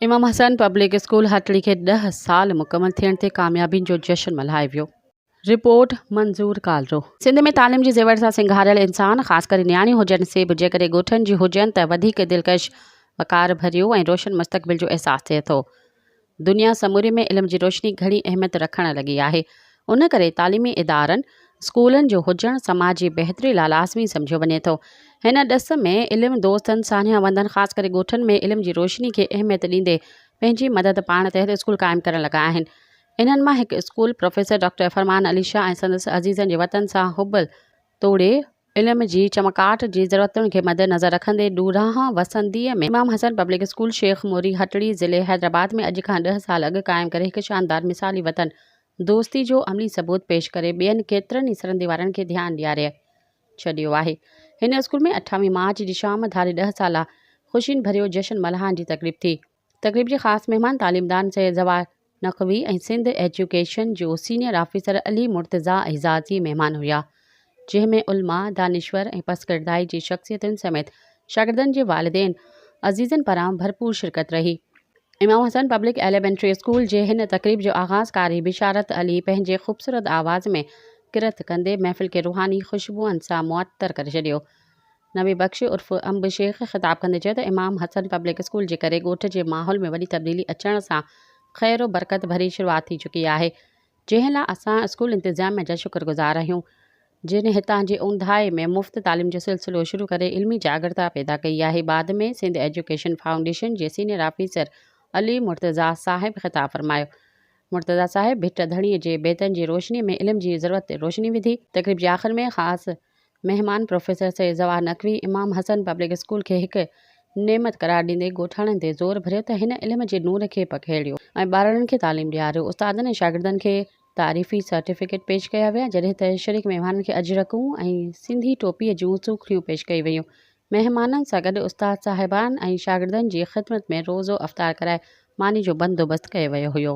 امام Hussain public school Hatri کي ڏهه سال مڪمل ٿيڻ تي ڪاميابين جو جشن ملهائي ويو. رپورٽ، منظور ڪالرو. سنڌ ۾ تعليم جي زيور سان سنگهاريل انسان خاص ڪري نياڻيون هجن سي به جيڪڏهن ڳوٺن جي هجن ته وڌيڪ دلڪش، وقار ڀريو ۽ روشن مستقبل جو احساس ٿئي ٿو. دنيا سموري ۾ علم جي روشني گهڻي اهميت رکڻ لڳي آهي، ان ڪري تعليمي ادارن، اسڪولن جو هجڻ سماج جي بهتري لاء لازمي سمجهيو وڃي ٿو. هن ڏس ۾ علم دوستن، ساڃاهه وندن خاص ڪري ڳوٺن ۾ علم جي روشني کي اهميت ڏيندي پنهنجي مدد پاڻ تحت اسڪول قائم ڪرڻ لڳا آهن. انهن مان هڪ school professor doctor Farman Ali Shah ۽ سندس عزيزن جي وطن سان حب توڙي علم جي چمڪاٽ جي ضرورتن کي مدنظر رکندي ڏورانهن وسنديء ۾ امام حسن پبلڪ اسڪول شيخ موري هٽڙي ضلعي حيدرآباد ۾ اڄ کان ڏهه سال اڳ قائم ڪري هڪ شاندار مثالي وطن دوستي جو عملي ثبوت پيش ڪري ٻين ڪيترن ئي سرندي وارن کي ڌيان ڏياري ڇڏيو آهي هن اسڪول ۾ اٺاويهه مارچ جي شام ڌاري ڏهه سالا خوشين ڀريو جشن ملهائڻ جي تقريب ٿي. تقريب جي خاص مهمان تعليمدان سيد زوار نقوي ۽ سنڌ ايجوڪيشن جو سينيئر آفيسر علي مرتضيٰ اعزازي مهمان هيا جنهن ۾ علماء دانشور ۽ پس ڪردائي جي شخصيتن سميت شاگردن جي والدين عزيزن پران ڀرپور شرڪت رهي Imam Hassan public elementary school جي هن تقريب جو آغاز قاري بشارت علي پنهنجي خوبصورت آواز ۾ ڪرت ڪندي محفل کي روحاني خوشبوئن سان معطر ڪري ڇڏيو نبي بخش عرف انب شيخ خطاب ڪندي چيو ته امام حسن پبلڪ اسڪول جي ڪري ڳوٺ جي ماحول ۾ وڏي تبديلي اچڻ سان خير و برڪت ڀري شروعات ٿي چڪي آهي جنهن لا اسان اسڪول انتظاميه جا شڪر گذار آهيون جن هتان جي اونداهي ۾ مفت تعليم جو سلسلو شروع ڪري علمي جاڳرتا پيدا ڪئي آهي بعد ۾ سنڌ ايجوڪيشن فائونڊيشن جي سينيئر آفيسر علي مرتضيٰ صاحب خطاب فرمايو مرتضيٰ صاحب ڀٽ ڌڻي جي بيتن جي روشني ۾ علم جي ضرورت تي روشني وڌي تقريب جي آخر ۾ خاص مهمان professor Syed Jawahar Naqvi Imam Hassan public school کي هڪ نعمت قرار ڏيندي ڳوٺاڻن تي زور ڀريو ته هن علم جي نور کي پکيڙيو ۽ ٻارڙن کي تعليم ڏياريو، استادن ۽ شاگردن کي تعريفي سرٽيفڪيٽ پيش ڪيا ويا جڏهن ته شريڪ مهمانن کي اجرڪون ۽ سنڌي ٽوپي جون سوکڙيون پيش ڪيون ويون، مهمانن سان گڏ استاد صاحبان ۽ شاگردن جي خدمت ۾ روزو افطار ڪرائي ماني جو بندوبست ڪيو ويو هيو.